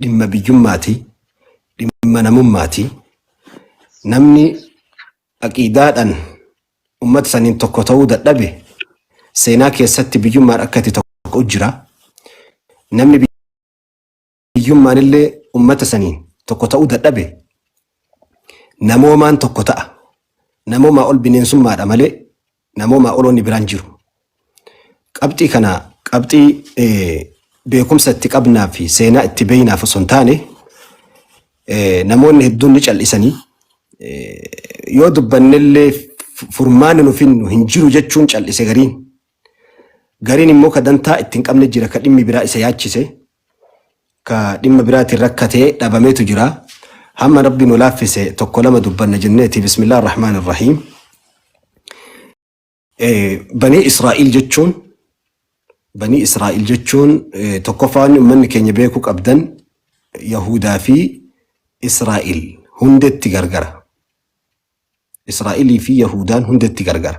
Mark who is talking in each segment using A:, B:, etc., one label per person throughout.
A: dhimma biyyummaati, dhimma namummaati. Namni aqiidaadhaan ummata saniin tokko ta'uu dadhabe seenaa keessatti biyyummaan akka itti tokko jira. Namni biyyummaan illee ummata saniin tokko ta'uu dadhabe namoomaan tokko ta'a. Namoomaa ol bineensummaadha malee namoomaa oloonni biraan jiru. Qabxii kana qabxii beekumsa itti qabnaa fi seenaa itti beeynaaf osoo hin taane namoonni hedduun ni cal'isanii yoo dubbannellee furmaanni nu finnu hin jiru jechuun cal'ise gariin. Gariin immoo ka dantaa itti hin qabne jira ka dhimmi biraa isa yaachise ka dhimma biraatiin rakkatee dhabametu jira. Hamma Rabbi nu laaffise tokko lama dubbanna jenneeti. Bismillah ar-Rahmaan ar-Rahiim. Eh, Banii Israa'il jechuun Banii Israa'il jechuun eh, tokkoffaa wanni uummanni keenya beekuu qabdan Yahuudaa fi Israa'il hundetti gargara. Israa'ilii fi Yahuudaan hundetti gargara.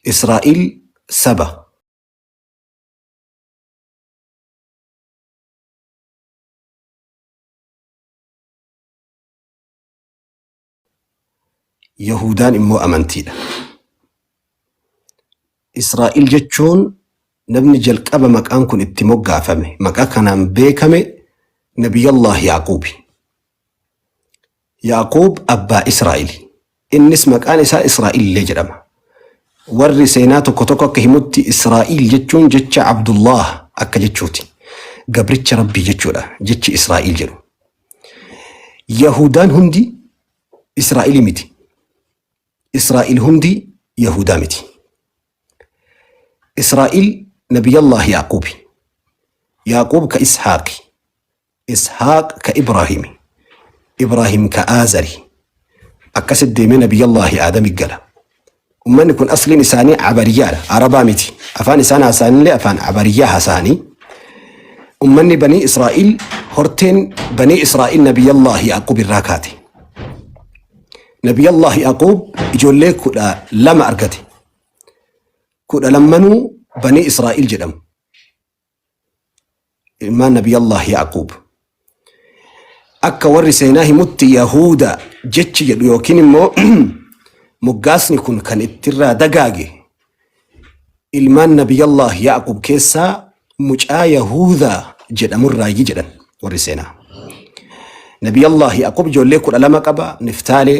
A: Israa'il saba. Yahudaan immoo amantiidha. Israa'el jechuun namni jalqaba maqaan kun itti moggaafame maqaa kanaan beekame Nabiyallah Yaaquubi. Yaaqoob abbaa Israa'eli. Innis maqaan isaa Israa'il illee jedhama. Warri seenaa tokko tokko akka himutti Israa'il jechuun jecha Abdullaah akka jechuuti. Gabricha Rabbii jechuudha jechi Israa'il jedhu. Yahudaan hundi Israa'ilii miti. Israa'il hundi Yahudaa miti. Israa'il Nabiyyallah Yaaqoobi. Yaaqoob ka Ishaaqi. Ishaaq ka Ibraahimi, Ibraahim ka Aazari. Akkasit deemee Nabiyyallaahi Aadami gala. Ummanni kun asliin isaanii Abariyyaadha, Arabaa miti. Afaan isaan haasa'anillee afaan Abariyyaa haasa'anii. Ummanni Banii Israa'iil, horteen Banii Israa'iil Nabiyyallaahi Yaaquub irraa kaate. Nabiyyallaahi Yaaquub ijoollee kudha lama argate. Kudha lammanuu Banii Israa'iil jedhamu. ilmaan nabiyallah yaaquub akka warri seenaa himutti yahuuda jechi jedhu yookiin immoo moggaasni kun kan ittirraa dagaage ilmaan nabiyallah yaaquub keessaa mucaa yahuuda jedhamurraayyi jedhan warri seenaa nabiyallah yaaquub ijoollee kudha lama qaba niftaalee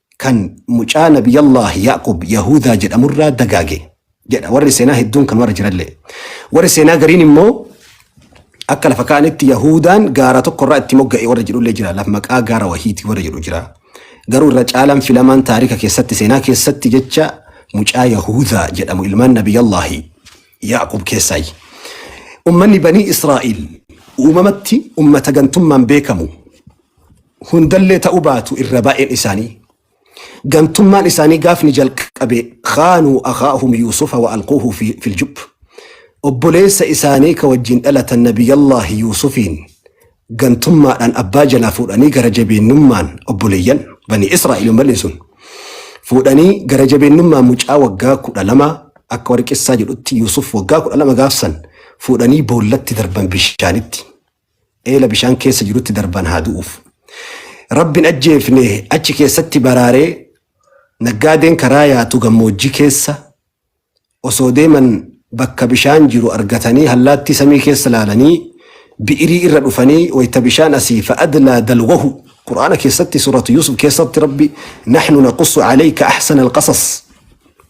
A: kan mucaa Nabiyyallaahi Ya'quub Yahuudaa jedhamurraa dagaage jedha warri seenaa hedduun kan warra jirallee. Warri seenaa gariin immoo akka lafa kaa'anitti Yahuudaan gaara tokkorraa itti mogga'e warra jedhullee jira. Laf maqaa gaara wahiitii warra jedhu jira. Garuu irra caalaan filamaan taarika keessatti seenaa keessatti jecha mucaa Yahuudaa jedhamu ilmaan Nabiyyallaahi Ya'quub keessaayi. Ummanni banii Israa'il uumamatti ummata gantummaan beekamu hundallee ta'uu baatu irra baay'een isaanii gantummaan isaanii gaafni jalqabe khaanuu akhaahum yuusufa wa alquuhu fi- fil jub obboleessa isaanii ka wajjin dhalatan nabiyyallaahi yuusufiin gantummaadhaan abbaa jalaa fuudhanii gara jabeennummaan obboleeyyan bani israa'el malee sun fuudhanii gara jabeennummaan mucaa waggaa kudha lama akka warqessaa jedhutti yuusuf waggaa kudha lama gaafsan fuudhanii boollatti darban bishaanitti eela bishaan keessa jirutti darban haa du'uuf. Rabbin ajjeefne achi keessatti baraaree naggaadeen karaa yaatu gammoojjii keessa osoo deeman bakka bishaan jiru argatanii hallaattii samii keessa laalanii bi'irii irra dhufanii wayta bishaan asii fa'adlaa dalwahu qur'aana keessatti suuratu yuusuf keessatti rabbi nahnu naqussu alayka ahsana alqasas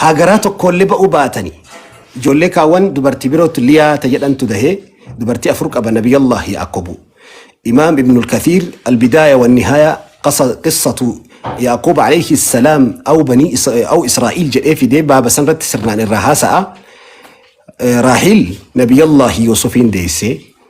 A: Haa garaa tokkoollee ba'uu baatani. Ijoollee kaawwan dubartii birootu Liyaa ta jedhantu dahe dubartii afur qaba Nabiyallah Yaaqobu. Imaam Ibnul Kathiir Albidaaya wan Nihaaya qasa qissatu Yaaqoob alayhi salaam aw banii Is- aw Israa'iil jedhee fidee baaba sanirratti sirnaan irraa haasa'a. Eh, Raahiil Nabiyallah Yuusufiin deessee.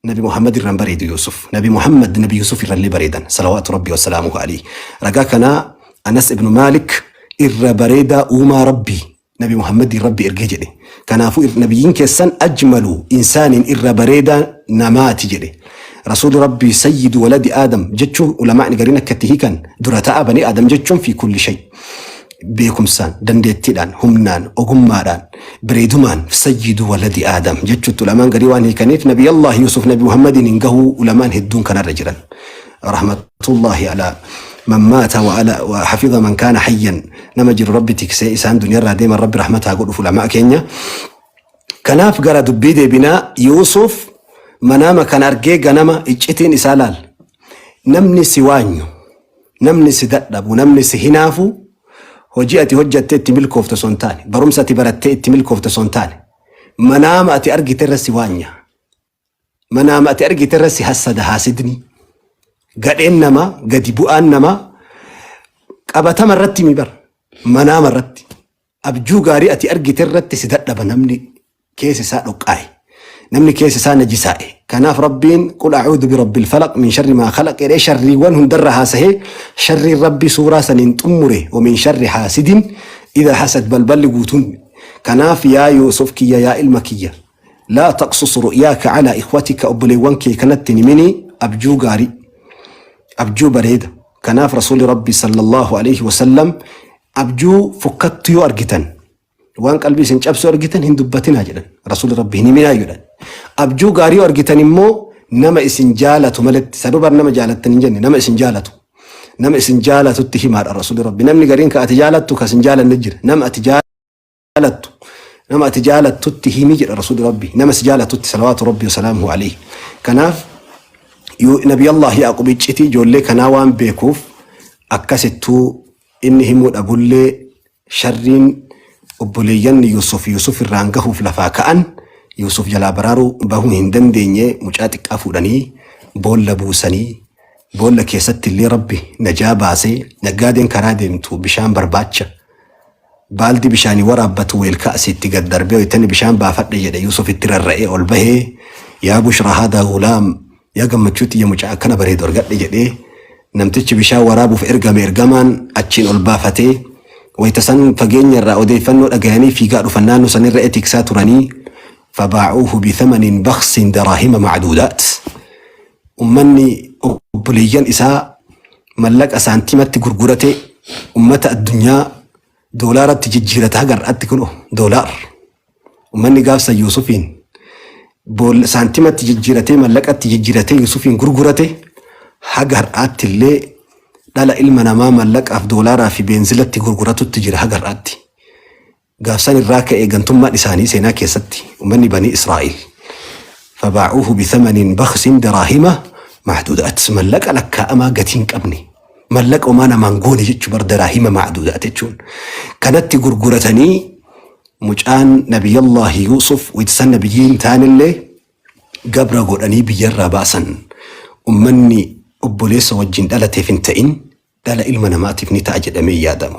A: Nabi Muhammad irran bareedu Yuusuf. Nabi Muhammad Nabi Yuusuf irrallee bareedan. Salawaatu Rabbi wassalaamuhu alayhi. Ragaa kanaa Anas ibn Maalik irra bareedaa uumaa Rabbi Nabi Muhammadiin Rabbi ergee jedhe. Kanaafuu ir- nabiyyiin keessan ajmalu insaaniin irra bareedaa namaati jedhe. Rasuulli Rabbi sayyidu waladi Aadam jechuun ulamaa'ni gariin akka itti hiikan dura ta'a banii Aadam jechuun fi kulli shay. beekumsaan, dandeettiidhaan, humnaan, ogummaadhaan, bareedumaan sayyidu waladi aadam jechuutti ulamaan garii waan hiikaniif nabi Allah Yuusuf nabi Muhammadiin hin gahuu ulamaan hedduun kanarra jiran. Rahmatullahi alaa man maata wa ala wa hafiza man kaana hayyan nama jiru rabbi tiksee isaan duniyarraa deeman rabbi rahmataa godhuuf ulamaa keenya. Kanaaf gara dubbii deebinaa Yuusuf manaama kan argee ganama iccitiin isaa laal. Namni si waanyu Namni si dadhabu, namni si hinaafu hojii ati hojjattee itti milkoofte osoo hin taane, barumsa ati barattee itti milkoofte osoo hin taane, manaama ati argite irra si waanya. Manaama ati argite irra si hassada haasidni. Gadheen namaa, gadi bu'aan namaa qabatama irratti mi bara. Manaama irratti. Abjuu gaarii ati argite irratti si dadhaba namni keessa isaa dhoqqaa'e. Namni keessa isaa najisaa'e. Kanaaf Rabbiin qul a'uudu birabbil falaq min sharri maa khalaq jedhee sharriiwwan hundarra haasahee sharriin Rabbi suuraa saniin xummure wa min sharri haasidin idha hasad balballi guutuun. Kanaaf yaa Yuusuf kiyya yaa ilma kiyya laa taqsus ru'yaaka calaa ikhwatika obboleewwan kee kanatti hin himinii abjuu gaarii abjuu bareeda. Kanaaf Rasuulli Rabbi sallallahu alayhi wa sallam Abjuu fokkattu yoo argitan waan qalbii isin cabsu argitan hin dubbatinaa jedhan rasuulli rabbi hin himinaa jedhan abjuu gaarii yoo argitan immoo nama isin jaalatu maletti sadubar nama jaalattan hin jenne nama isin jaalatu nama isin jaalatutti himaadha rasuulli rabbi namni gariin ka ati jaalattu ka isin jaalanne jira nama ati jaalatu jaalattu nama ati jaalattutti himi jedha rasuulli rabbi nama si jaalattutti salawaatu rabbi wasalaamuhu alayhi kanaaf yoo nabi allah yaaqub icciti ijoollee kanaa waan beekuuf akkasittuu inni himuu dhabullee sharriin obboleeyyan yuusuf yuusuf irraan gahuuf lafaa ka'an yuusuf jalaa baraaruu bahuu hin dandeenye mucaa xiqqaa fuudhanii boolla buusanii boolla keessatti illee rabbi najaa baasee naggaadeen karaa deemtu bishaan barbaacha Baaldii bishaanii waraabbatu weelka asiitti gad darbee wayitani bishaan baafadhe jedhe Yuusuf itti rarra'ee ol bahe yaa bushraa haadaa gulaam yaa gammachuu tiyya mucaa akkana bareedu argadhe jedhe namtichi bishaan waraabuuf ergame ergamaan achiin ol baafate wayita san fageenya irraa odeeffannoo dhagayanii fiigaa dhufan naannoo san irra etiksaa turanii fabaacuuhu bithamanin baksin daraahima macduudaat Ummanni obboleeyyan isaa mallaqa saantiimatti gurguratee ummata addunyaa doolaaratti jijjiirata haga har'aatti kuno doolaar. Ummanni gaafsa Yuusufiin bool- saantiimatti jijjiiratee mallaqatti jijjiiratee Yuusufiin gurgurate haga har'aatti illee dhala ilma namaa mallaqaaf doolaaraa fi beenzilatti gurguratutti jira haga har'aatti. Gaaf san irraa ka'ee gantummaan isaanii seenaa keessatti ummanni banii Israa'iil fabaa'uuhu bithamanin bakhsin daraahima macduudaat mallaqa lakkaa'amaa gatii hin qabne mallaqa homaa namaan goone jechuu bar daraahima macduudaat jechuun kanatti gurguratanii mucaan nabiyyallaahi Yuusuf waytisan nabiyyiin taanillee gabra godhanii biyyarraa baasan ummanni obboleessa wajjin dhalateef hin ta'in dhala ilma namaatiif ni ta'a jedhamee yaadamu.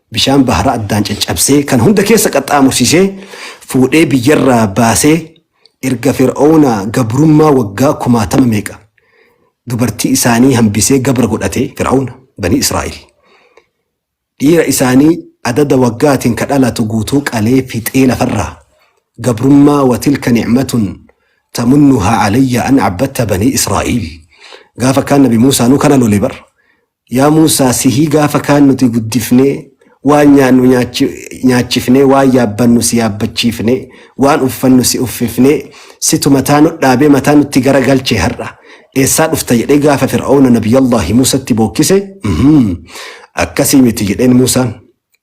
A: Bishaan bahara addaan caccabsee kan hunda keessa qaxxaamursisee fuudhee biyyarraa baasee erga Fir'aawna gabrummaa waggaa kumaatama meeqa dubartii isaanii hambisee gabra godhate Fir'aawna banii Israa'el. Dhiira isaanii adada waggaatiin ka dhalatu guutuu qalee fixee lafarraa gabrummaa watilka ni'matun tamunnuhaa alayya an abbatta banii Israa'el. Gaafa kaan nabi Muusaanuu kana lole bar Yaa Muusaa sihii gaafa kaan nuti guddifnee, waan nyaannu nyaachifnee, waan yaabbannu si yaabbachiifne, waan uffannu si uffifne, situ mataa nudhaabee mataa nutti gara galche har'a eessaa dhufta jedhee gaafa Fir'awna Nabiyyallaahi Muusatti bookkise, uhmm akkasii miti jedheen Muusaan.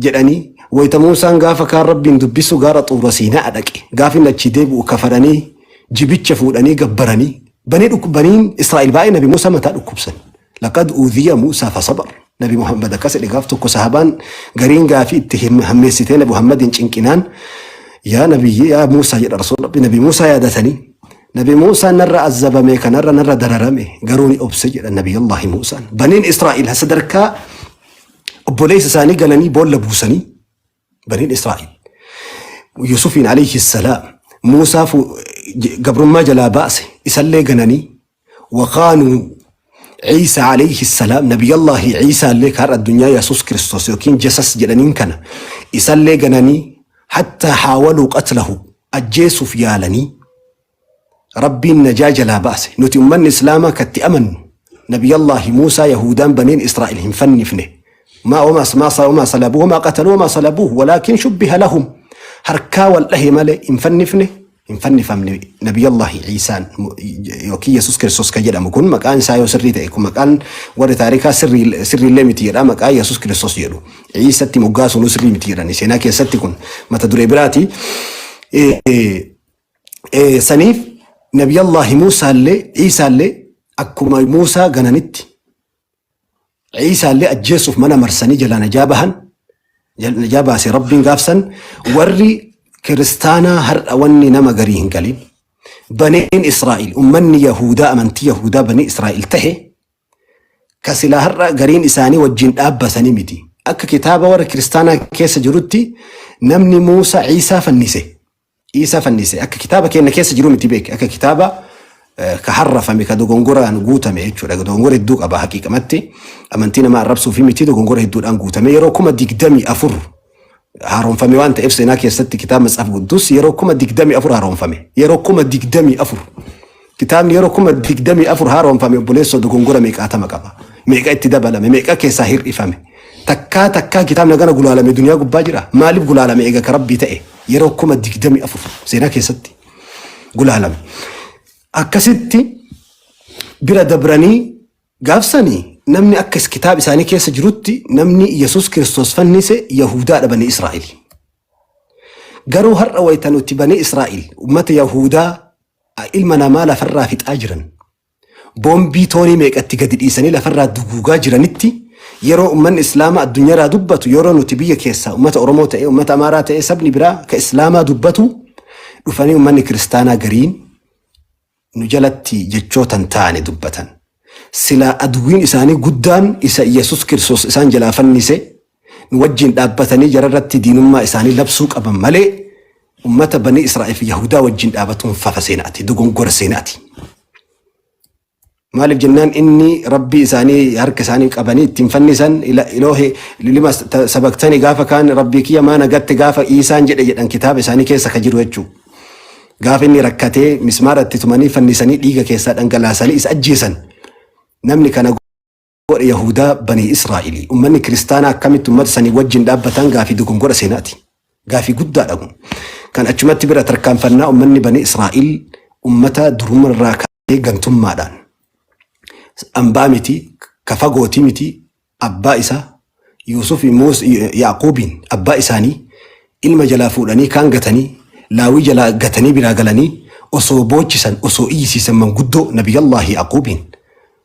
A: jedhanii, wayta Muusaan gaafa kaan Rabbiin dubbisu gaara Xuura Siina'a dhaqe, gaafa inni achii deebi'u kafaranii, jibicha fuudhanii gabbaranii. Banii dhuk baniin Israa'il baay'ee Nabi Muusaa mataa dhukkubsan. Laqad uudhiya Muusaa fasabar. Nabi Muhammad akkas jedhe gaaf tokko sahabaan gariin gaafii itti him- hammeessitee Nabi Muhammadiin cinqinaan yaa Nabiyyi yaa Muusaa jedha Rasuul Rabbi Nabi Muusaa yaadatanii. Nabi Muusaan narra azzabame kanarra narra dararame garuu ni obse jedha Nabi Allahi Muusaan. Baniin Israa'il sadarkaa obboleessa isaanii gananii boolla buusanii baniin Israa'el. Yusufiin alayhi salaam Muusaa fu- j- gabrummaa jalaa baase isallee gananii waqaanuu Ciisa alayhi salaam nabiyyallaahi Ciisaa illee kaarra addunyaa Yesuus Kiristoos yookiin Jesas jedhaniin kana isallee gananii hattaa haawaluu qatlahu ajjeesuuf yaalanii Rabbiin najaa jalaa baase. Nuti ummanni Islaamaa ka itti amannu Nabiyyallaahi Muusaa Yahuudaan baniin Israa'il hin fannifne. Maa wamaa maa sa wamaa salabuu wamaa qataluu wamaa salabuuhu walaakin shubbiha lahum. Harkaa wal dhahe malee hin fannifne hin fannifamne Nabiyyallaahi Iisaan mu- yookiin Yesuus Kiristoos kan jedhamu kun maqaan isaa yoo sirrii ta'e kun maqaan warri taarikaa sirrii sirriillee miti jedha maqaa Yesuus Kiristoos jedhu. Iisatti moggaasuun sirrii miti jedhani seenaa keessatti kun mata duree biraati. Eh, eh, Eh, saniif nabiyallaahi muusaallee ciisaallee akkuma muusaa gananitti ciisaallee ajjeessuuf mana marsanii jalaa najaa bahan jal- najaa baase rabbiin gaafsan warri kiristaanaa har'a wanni nama garii hin galin baneen israa'il ummanni yahuudaa amantii yahuudaa banii israa'il tahe ka silaa har'a gariin isaanii wajjin dhaabbatanii miti akka kitaaba warra kiristaanaa keessa jirutti namni muusaa ciisaa fannise Iisaa fannise akka kitaaba keenna keessa jiru miti beeki akka kitaaba eh, ka harrafame ka dogongoraan guutame jechuudha dogongora hedduu qaba haqiiqamatti amantii nama arrabsuu fi miti dogongora hedduudhaan guutame yeroo kuma digdamii afur haaromfame waan ta'eef seenaa keessatti kitaaba matsaaf guddus yeroo kuma digdamii afur haaromfame yeroo kuma digdamii afur Kitaabni yeroo 24,000 haaromfame obboleessoo dogongora meeqaatama qaba? Meeqa itti dabalame? Meeqa keessaa hir'ifame? Takkaa takkaa kitaabni hagana gulaalame duniyaa gubbaa jira? Maaliif gulaalame eega ka rabbii ta'e? Yeroo 24,000 seenaa keessatti gulaalame. Akkasitti bira dabranii gaafsanii namni akka is- kitaaba isaanii keessa jirutti namni Yesuus Kiristoos fannise Yahuudaadha banii Israa'el. Garuu har'a wayita nuti banii Israa'el uummata Yahuudaa a Ilma namaa lafarraa fixaa jiran, boombii toonii meeqa itti gadi dhiisanii lafarraa duguugaa jiranitti yeroo ummanni Islaamaa addunyaraa dubbatu, yeroo nuti biyya keessaa ummata Oromoo ta'ee, ummata Amaaraa ta'ee sabni biraa ka Islaamaa dubbatu dhufanii ummanni Kiristaanaa gariin nu jalatti jechoota hin taane dubbatan. Silaa adwwiin isaanii guddaan isa Iyyasuus Kiristoos isaan jalaa fannise nu wajjiin dhaabbatanii jara irratti diinummaa isaanii labsuu qaban malee ummata banii Israa'el fi Yahudaa wajjiin dhaabatuun fafa seena ati dogongora seena ati. Maaliif jennaan inni rabbii isaanii harka isaanii qabanii ittiin fannisan ila- iloohe lilima ta- sabaktani gaafa kaan rabbii kiyya maa nagatte gaafa iisaan jedhe jedhan kitaaba isaanii keessa ka jiru jechuudha. Gaafa inni rakkatee mismaara itti tumanii fannisanii dhiiga keessaa dhangalaasanii isa ajjeesan namni kana godhe Yahudaa banii Israa'ilii. Ummanni kiristaanaa akkamitti ummata sanii wajjin dhaabbatan gaafii dogongora seenaati. Gaafii guddaadha kun. Kan achumatti bira tarkaanfannaa ummanni banii Israa'il ummata duruma irraa kaasee gantummaadhaan ambaa miti, ka fagooti miti, abbaa isaa Yuusuf Muus- Yaaquubiin abbaa isaanii ilma jalaa fuudhanii kaan gatanii laawii jalaa gatanii biraa galanii osoo boochisan osoo iyyisiisan manguddoo Nabiyyallaahi Yaaquubiin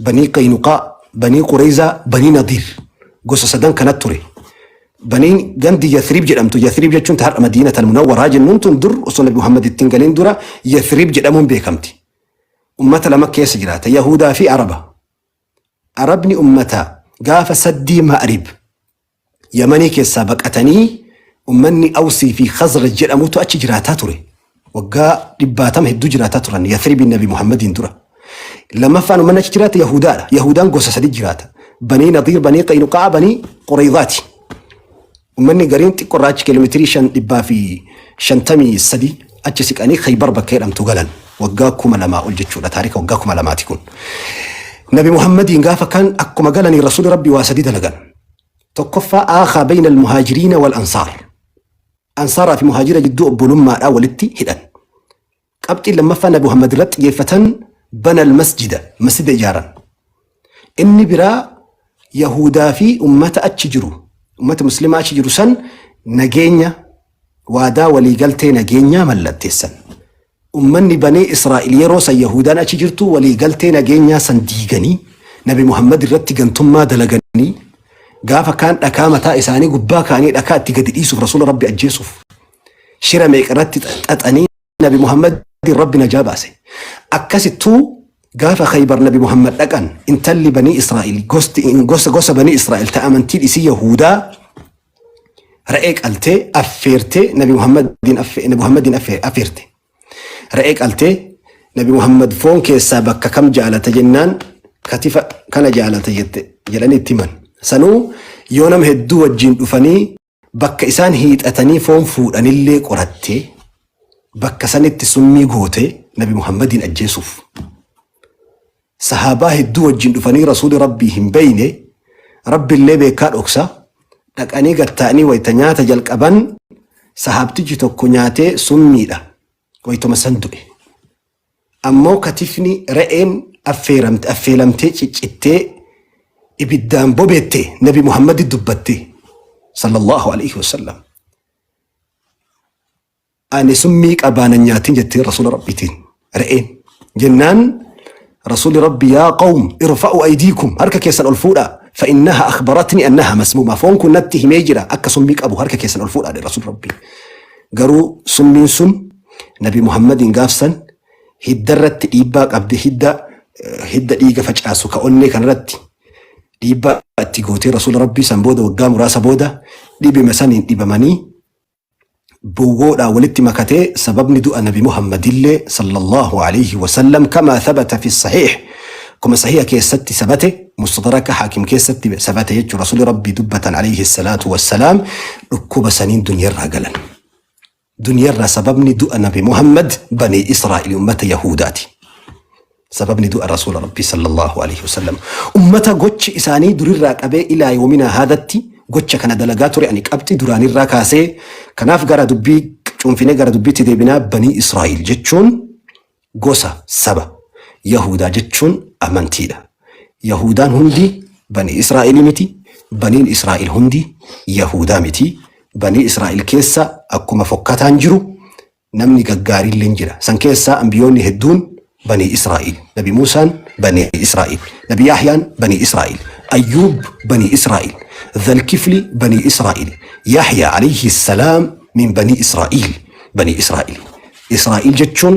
A: Banii Qaynuqaa, Banii Qureyzaa, Banii Nadiir. Gosa sadan kana ture. Baniin gandi Yathrib jedhamtu, Yathrib jechuun ta har'a Madiinat al-Munawwaraa jennuun tun dur osoo Nabi Muhammad ittiin galiin dura Yathrib jedhamuun beekamti. Ummata lama keessa jiraata, Yahuudaa fi Araba. Arabni ummata gaafa saddii Ma'rib Yamanii keessaa baqatanii ummanni Awsii fi Khazraj jedhamutu achi jiraataa ture. Waggaa dhibbaatama hedduu jiraataa turan Yathribiin Nabi Muhammadiin dura. Lammaffaan ummanni achi jiraate Yahudaadha. Yahudaan gosa sadi jiraata. Banii Nadiir, Banii Qaynuqaa, Banii Qurayzaati. Ummanni gariin xiqqoorraa achi kiiloomeetirii shan dhibbaa fi shantamii sadi achi siqanii Khaybar bakka jedhamtu galan. Waggaa kuma lamaa ol jechuudha. Taarika waggaa kuma lamaati kun. Nabi Muhammadiin gaafa kan akkuma galanii Rasuulli Rabbii waa sadi dalagan. Tokkoffaa aakhaa bayna al-muhaajiriina wal ansaar. Ansaaraa fi muhaajira jidduu obbolummaadhaa walitti hidhan. Qabxiin lammaffaa Nabi Muhammad irratti xiyyeeffatan bana al-masjida, masjida ijaaran. Inni biraa Yahuudaa fi ummata achi jiru, ummata muslimaa achi jiru san nageenya waadaa waliigaltee nageenyaa mallatteessan. Ummanni Banii Israa'iil yeroo san Yahuudaan achi jirtu walii galtee nageenyaa san diiganii Nabi Muhammad irratti gantummaa dalaganii gaafa kaan dhakaa mataa isaanii gubbaa kaanii dhakaa itti gadi dhiisuuf Rasuula Rabbi ajjeesuuf shira meeqa irratti xaxanii Nabi Muhammad Rabbi najaa baase. Akkasittuu gaafa Khaybar Nabi Muhammad dhaqan intalli Banii Israa'iil gosti gosa gosa Banii Israa'iil ta amantii dhisii Yahuudaa Re'ee qaltee affeertee Nabi Muhammadiin affe- Nabi Muhammadiin affe- affeerte. Re'ee qaltee Nabi Muhammad foon keessaa bakka kam jaalata jennaan katifa kana jaalata jette jedhanii itti himan. Sanuu yoo nama hedduu wajjin dhufanii bakka isaan hiixatanii foon fuudhanillee qorattee bakka sanitti summii gootee Nabi Muhammadiin ajjeesuuf. Sahaabaa hedduu wajjin dhufanii Rasuuli Rabbii hin beeyne, Rabbillee beekkaa dhoksa, dhaqanii gad taa'anii wayta nyaata jalqaban, sahaabtichi tokko nyaatee summiidha, waytuma san du'e. Ammoo katifni re'een affeeramte, affeelamtee ciccittee ibiddaan bobeette, Nabi Muhammadi dubbatte, sallallahu alayhi wa sallam. Ani summii qabaa na nyaatin jetteen Rasuula Rabbiitiin. Re'een. Jennaan Rasuulli Rabbi yaa qawm irfa'u aydiikum harka keessan ol fuudhaa fa'innaha akhbaratni annaha masmuuma foon kun natti himee jira akka summii qabu harka keessan ol fuudhaa dhe Rasuulli Rabbi. Garuu summiin sun Nabi Muhammadiin gaafsan hidda irratti dhiibbaa qabde hidda eh, hidda dhiiga facaasu ka onnee kanarratti dhiibbaa itti gootee Rasuula Rabbii san booda waggaa muraasa booda dhibima saniin dhibamanii bowwoodhaan walitti makatee sababni du'a nabi muhammadillee sallallahu alayhi wasallam kamaa thabata fi sahiih kuma sahiha keessatti sabate mustadraka haakim keessatti sabate jechuu rasuli rabbii dubbatan alayhi salaatu wassalaam dhukkuba saniin duniyarraa galan duniyarraa sababni du'a nabi muhammad banii israa'il ummata yahuudaati Sababni du'a Rasuula Rabbii sallallaahu aleeyhi wasallam ummata gochi isaanii durirraa qabee ilaa yoominaa haadhatti gocha kana dalagaa ture ani qabxi duraanirraa kaasee kanaaf gara dubbii cuunfinee gara dubbiitti deebinaa banii Israa'iil jechuun gosa saba Yahuudaa jechuun amantiidha. Yahuudaan hundi banii Israa'ilii miti baniin Israa'il hundi Yahuudaa miti banii Israa'il keessa akkuma fokkataan jiru Namni gaggaariilleen jira. San keessaa anbiyoonni hedduun Banii Israa'iil. Nabi Muusaan Banii Israa'iil. Nabi Yahyaan Banii Israa'iil. Ayyuub Banii Israa'iil. Zalkifli Banii Israa'iil. Yahyaa alayhi salaam min Banii Israa'iil. Banii Israa'iil. Israa'iil jechuun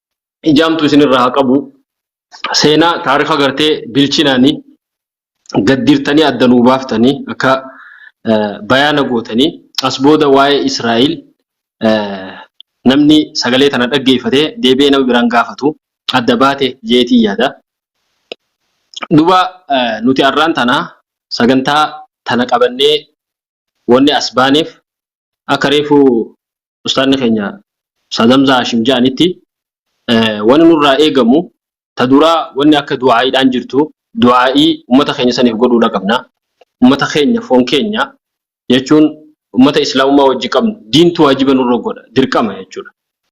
B: ijaamtu isinirraa haa qabu. Seenaa taarifa gartee bilchinaanii gaddiirtanii adda nuu baaftanii akka eh, bayaana gootanii as booda waa'ee Israa'el eh, namni sagalee tana dhaggeeffatee deebi'ee nama biraan gaafatu adda baate jeetii yaada. Duba eh, nuti arraan tana sagantaa tana qabannee Wonni as baaneef akka reefu ustaadni keenya Ustaaz Hamzaa Haashim ja'anitti wonni nurraa eegamu ta duraa wonni akka du'aa'iidhaan jirtu du'aa'ii ummata keenya saniif godhuudha qabna. Ummata keenya foon keenya jechuun ummata islaamummaa wajji qabnu diintu waajiba nurra godha, dirqama jechuudha.